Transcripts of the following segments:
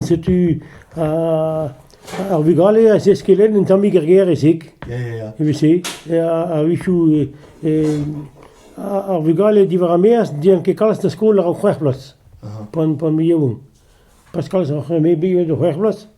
Setu ar vugale a zeskellen un tammig er gêr-se. Ya, ya, ya. Evel-se. A-wechoù, ar vugale diwar ar maez n'int ket kalz da skol àr an c'hwec'h bloaz, pan, pan 'm yaouank. Pas kalz, ar c'hwec'h, me 'm c'hwec'h bloaz.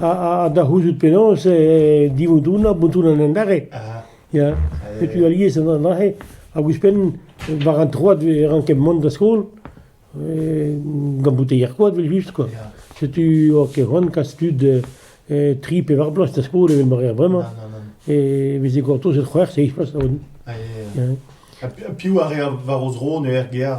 Ha da c'houzout penaos divoudouna bontounan an dare. Ya, setu alies aze. Hag ouzhpenn, war an troad e ranken mont da skol, gant bouteier koad evel-just kwa. Setu oa ket c'hoant kas tud tri pe var bloaz da skol evel ma reer bremañ. E veze gortozet c'hwec'h seizh bloaz. Ha piv a rea war o zro en ur gêr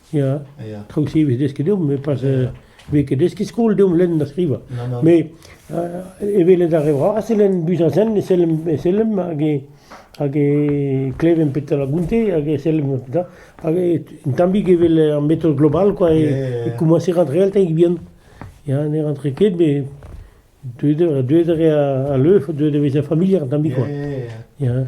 Ya, traoù se e vez desket deomp met pas vez ket deskiñ skol deomp lenn ha skrivañ. Mais evelet ar re vras e lenn Buzazen e sellem e sellem hag e hag e klevemp petra gonte hag e sellem petra hag un tammig evel ar metod global quoi e, e komañs e rentre all tammig bihan. Ya ne rentre ket met deuet a deuet a re a leuf deuet a vezañ familiar un tammig quoi. Ya.